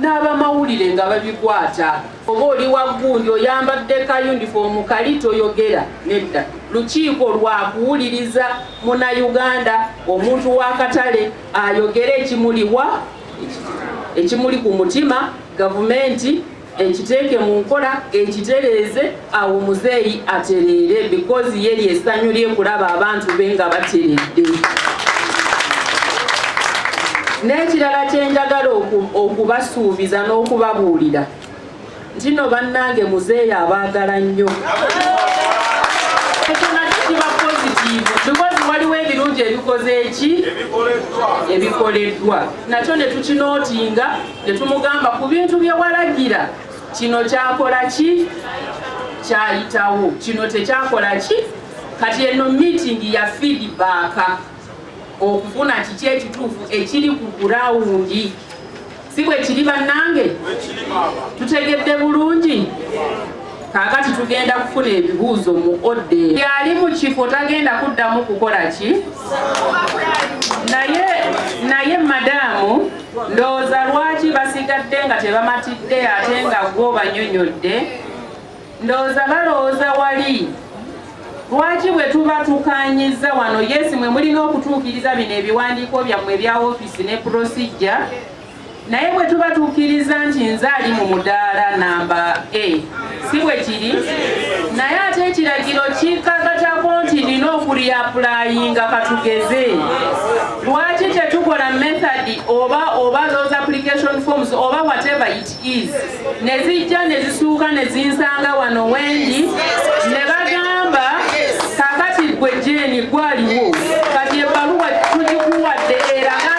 n'abamawulire nga babikwata. Oba oli wa gundi oyambadde ka yunifoomu kali toyogera nedda. Lukiiko lwa kuwuliriza Munnayuganda, omuntu w'akatale ayogere ekimuliwa ekimuli ku mutima, gavumenti ekiteeke mu nkola ekitereeze awo muzeeyi atereere because ye lyesanyu lyekulaba abantu be nga bateredde n'ekirala kyenjagala okubasuubiza n'okubabuulira ntino bannange muzeeyi abaagala nnyo because waliwo ebirungi ebikoze eki ebikoleddwa nakyo ne tukinootinga Tetumugamba ku bintu bye walagira kino kyakola ki kyayitawo kino tekyakola ki kati eno meeting ya feedback okufuna kiki ekituufu ekiri ku gurawundi si bwe kiri bannange tutegedde bulungi kakati tugenda kufuna ebibuuzo mu odde yali mu kifo tagenda kuddamu kukola ki naye naye madamu ndowooza lwaki basigadde nga tebamatidde ate nga gwo banyonyodde ndowooza balowooza wali lwaki bwe tuba tukanyiza wano yesi mwe mulina okutuukiriza bino ebiwandiiko byammwe ebya ofiisi ne prosijja naye bwe tuba tukkiriza nti nze ali mu mudaala namba a si bwe kiri naye ate ekiragiro kikagatako nti nina okuliapulayinga katugeze lwaki tetukola method oba oba those application forms oba whatever it is ne zijja ne zisuuka ne zinsanga wano wendi ne bagamba kakati gwe jeni gwaliwo kati ebbaluwa tugikuwadde eraga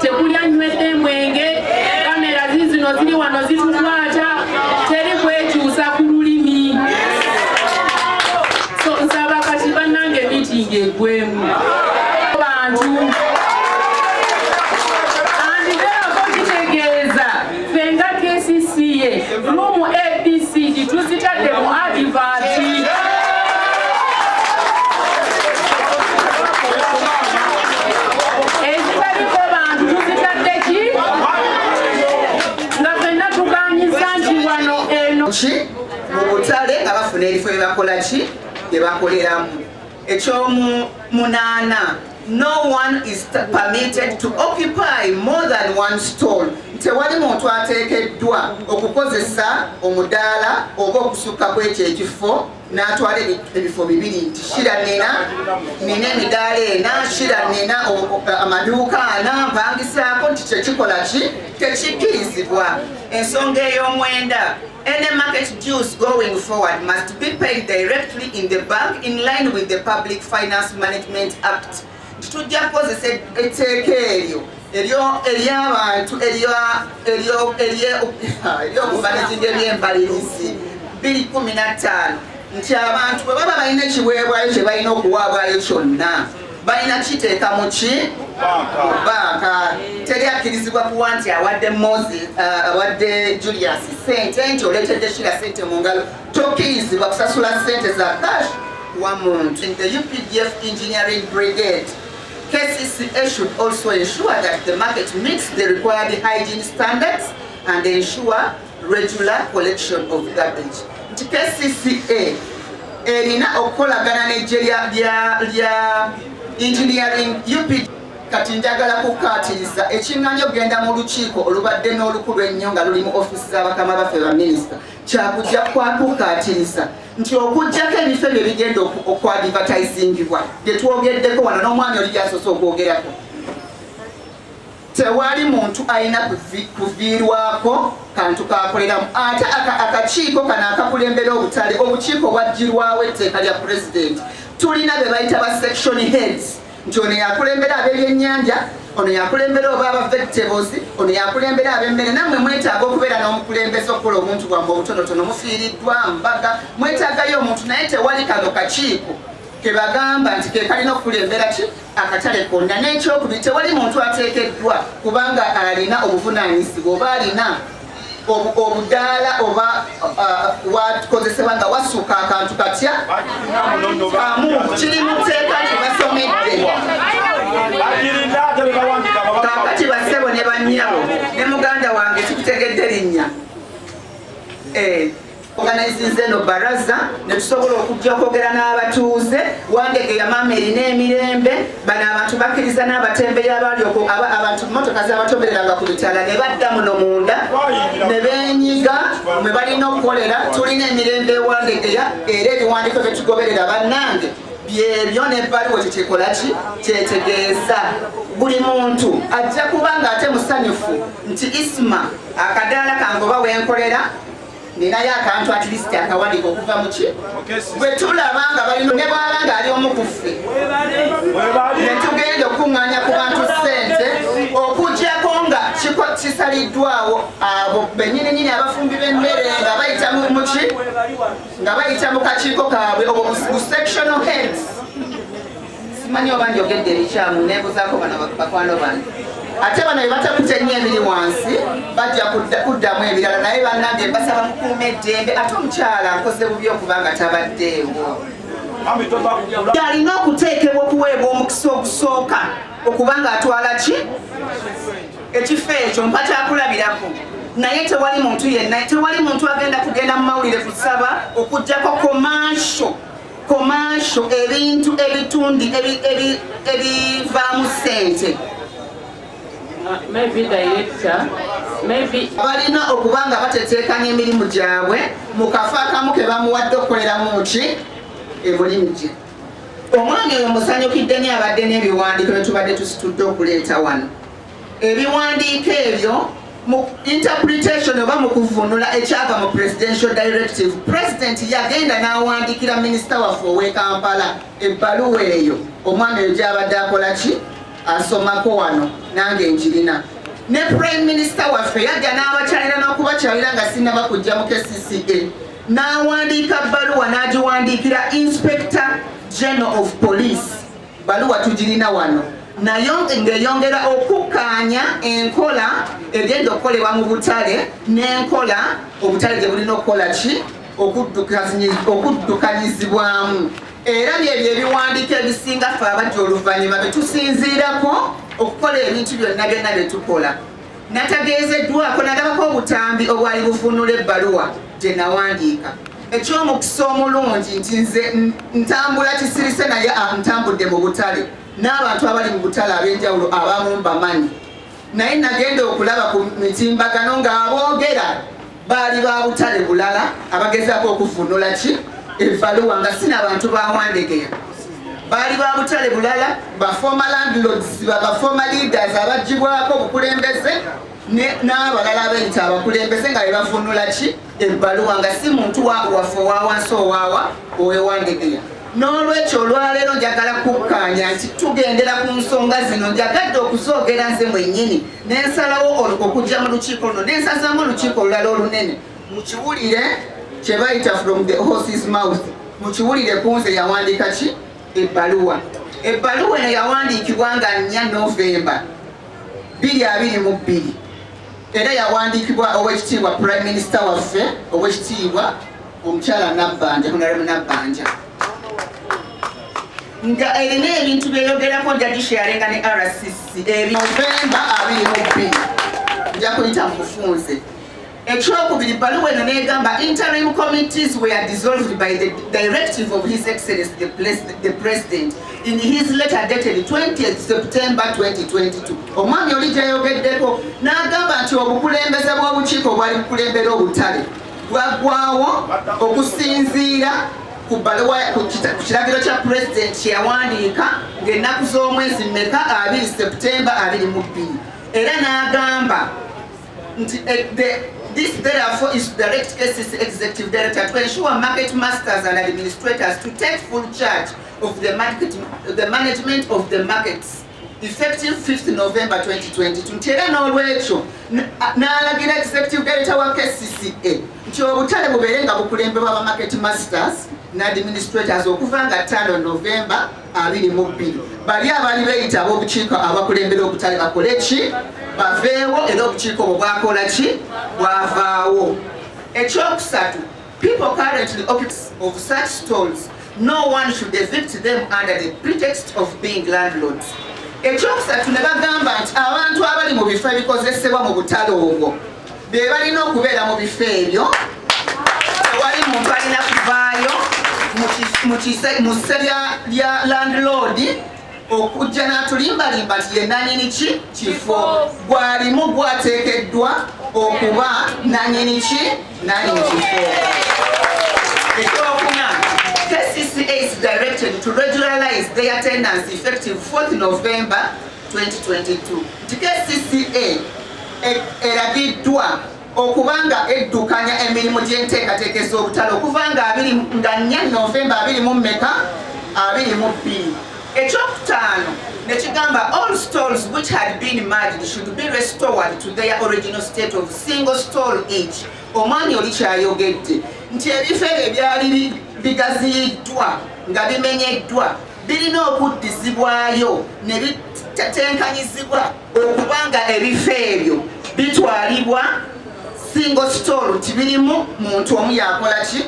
tekuli anywedde emwenge kamera zizino ziri wano zitukwata teri kwekyusa ku lulimi so nsaba kati bannange mitingi egwemu fenga kcca rumu abcd tuzitadde mu adivati ki mu butale nga bafuna ebifo byebakola ki byebakoleramu Ekyomu munaana no one is permitted to occupy more than one stall tewali muntu ateekeddwa okukozesa omudaala oba okusukka kwekyo ekifo n'atwala ebifo bibiri nti shira nina nina emidaala ena shira nina amaduuka ana mpangisaako nti kyekikola ki tekikkirizibwa ensonga ey'omwenda Any market dues going forward must be paid directly in the bank in line with the Public Finance Management Act. Tujja kukozesa etteeka eryo ery'abantu ery'okumanejinga eby'embalirizi 215 nti abantu bwe baba balina ekiweebwayo kye balina okuwaabwayo kyonna balina kiteeka mu ki banka teri akkirizibwa kuwa nti awadde mosi uh, awadde julius sente nti oleetedde shira sente mu ngalo tokkirizibwa kusasula sente za cash wa muntu the updf engineering brigade KCCA should also ensure that the market meets the required hygiene standards and ensure regular collection of garbage nti kcca erina okukolagana nejje lya engineering up kati njagala kukaatiriza ekiŋŋanyi okugenda mu lukiiko olubadde n'olukulu ennyo nga luli mu ofiisi z'abakama baffe baminisita kyakujja kwakukaatiriza nti okujjako ebifo ebyo bigenda okwadivataizingibwa bye twogeddeko wano n'omwami oli gyasoose okwogerako Tewali muntu alina kuviirwako kantu k'akoleramu ate akakiiko kano akakulembera obutale obukiiko obwaggyirwawo etteeka lya pulezidenti tulina be bayita ba section heads nti ono yakulembera ab'ebyennyanja ono yakulembera oba aba vegetables ono yakulembera ab'emmere nammwe mwetaaga okubeera n'omukulembeze okukola omuntu bwamu obutonotono mufiiriddwa mbaga mwetaagayo omuntu naye tewali kano kakiiko ke bagamba nti ke kalina okukulembera ki akatale konna n'ekyokubiri tewali muntu ateekeddwa kubanga alina obuvunaanyizibwa oba alina obudaala oba uh, wakozesebwa nga wasuuka akantu katya amu kiri mu tteeka kyebasomedde kakati bassebo ne bannyabo ne muganda wange kikutegedde linnya eh. oganizinze no baraza netusobola okujja okwogera n'abatuuze wandege yamaama erina emirembe bano abantu bakkiriza n'abatembeyi abaali abantu motoka zabatombereranga ku bitala ne badda muno munda ne benyiga mwe balina okukolera tulina emirembe ewandegeya era ebiwandiiko byetugoberera bannange byebyo nebbaluwa kyekikolaki kyetegeeza buli muntu ajja kuba nga ate musanyufu nti isma akadaala kangoba wenkolera ninayo akantu at least akawanika okuva muki bwe tulaba nga balina ne bwaba nga ali omu ku ffe ne tugenda okukuŋŋaanya ku bantu ssente okugyako nga kisaliddwawo abo benyininyini abafumbi b'emmere nga bayita muki nga bayita mu kakiiko kaabwe obwo bu sectional heads simanyi oba njogedde ebikyamu nebuzaako bano bakwano bange ate bano bebatakute nnyo ebiri wansi bajja kuddamu ebirala naye banange mbasaba mukuuma eddembe ate omukyala nkoze bubi okuba nga tabaddeewo alina okuteekebwa okuweebwa omukisa ogusooka okuba nga atwala ki ekifo ekyo mpa kyakulabirako naye tewali muntu yenna tewali muntu agenda kugenda mu mawulire kusaba okujjako komansho komansho ebintu ebitundi ebivaamu ssente balina okuba nga bateteekanya emirimu gyabwe mu kafo akamu ke bamuwadde okukoleramu ki emulimu gye omwami oyo musanyukidde ni abadde n'ebiwandiiko bye tubadde tusitudde okuleeta wano Ebiwandiiko ebyo mu interpretation oba mu kuvunula ekyava mu presidential directive president yagenda n'awandiikira minisita waffe ow'e kampala ebbaluwa eyo omwana eyo gyabadde akola ki asomako wano nange nkirina ne prime minister waffe yajja n'abakyalira n'okubakyalira nga sinaba kujja mu kcca n'awandiika bbaluwa n'agiwandiikira inspector general of police Baluwa tugirina wano nayo ng'eyongera okukkaanya enkola egenda okukolebwa mu butale n'enkola obutale gye bulina okukola ki okuddukanyizibwamu era byebyo ebiwandiiko ebisinga ffe abajja oluvannyuma bye tusinziirako okukola ebintu byonna byonna bye tukola Natageezeddwako nalabako obutambi obwali buvunula ebbaluwa gye nawandiika eky'omukisa omulungi nti nze ntambula kisirise naye ntambudde mu butale n'abantu abali mu butale ab'enjawulo abamu mbamanyi naye nagenda okulaba ku mitimbagano ng'aboogera Baali ba butale bulala abagezaako okuvvuunula ki ebbaluwa nga si na bantu ba Wandegeya. Baali ba butale bulala ba former landlords, ba ba former leaders abaggyibwako obukulembeze ne- n'abalala abeeyita abakulembeze nga be bavvuunula ki ebbaluwa nga si muntu wa waffe owa wansi owaawa owe Wandegeya. N'olwekyo olwaleero njagala kukkaanya nti tugendera ku nsonga zino njagadde okuzoogera nze mwennyini ne nsalawo okujja mu lukiiko luno ne nsazaamu olukiiko olulala olunene mukiwulire kye bayita from the horses mouth mukiwulire ku nze yawandiika ki ebbaluwa ebbaluwa eno yawandiikibwa nga nnya novemba bbiri abiri mu bbiri era yawandiikibwa ow'ekitiibwa prime minister waffe ow'ekitiibwa omukyala nabbanja honaremu nabbanja nga erina ebintu byeyogerako nja gisharinga ne rcc ebinovemba abiri mu bbiri nja kuyita mu bufunze ekyokubiri bbaluwa eno negamba interim committees were dissolved by the directive of his excellence the, pres the president in his letter dated 20 september 2022 omwami oli gyeyogeddeko n'agamba nti obukulembeze bw'obukiiko obwali bukulembera obutale gwaggwawo okusinziira ku bbaluwa ku kiragiro kya pulezidenti kye yawandiika ng'ennaku z'omwezi mmeka abiri septemba abiri mu bbiri era n'agamba nti eh, This therefore is to direct KCC Executive Director to ensure market masters and administrators to take full charge of the, market, the management of the markets. effective 5th November 2022 nti era n'olwekyo n'alagira executive director wa KCCA nti obutale bubeere nga bukulembebwa ba market masters ne administrators okuva nga 5 November 22 bali abali beyita ab'obukiiko abakulembera obutale bakole ki baveewo era obukiiko obwo bwakola ki bwavaawo ekyokusatu People currently occupants of such stalls, no one should evict them under the pretext of being landlords. Ekyokusatu ne bagamba nti abantu abali mu bifo ebikozesebwa mu butale obwo be balina okubeera mu bifo ebyo tewali muntu alina kuvaayo mu ssebya lya landlord okujja n'atulimbalimba nti ye nanyini ki kifo gwalimu gwateekeddwa okuba nanyini ki nanyini kifo ekyokuna kcca is directed to regularize the attendance effective 4th november 2022 nti kcca e, eragiddwa okuba nga eddukanya emirimu gy'enteekateeka ez'obutale okuva nga abiri nga nnya novemba abiri mu mmeka abiri mu bbiri ekyokutaano nekigamba all stalls which had been merged should be restored to their original state of single stall each omwami oli kyayogedde nti ebifo ebyo ebyali bigaziyiddwa nga bimenyeddwa birina okuddizibwayo ne bitetenkanyizibwa okuba nga ebifo ebyo bitwalibwa single store nti birimu muntu omu yakola ki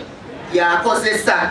yakozesa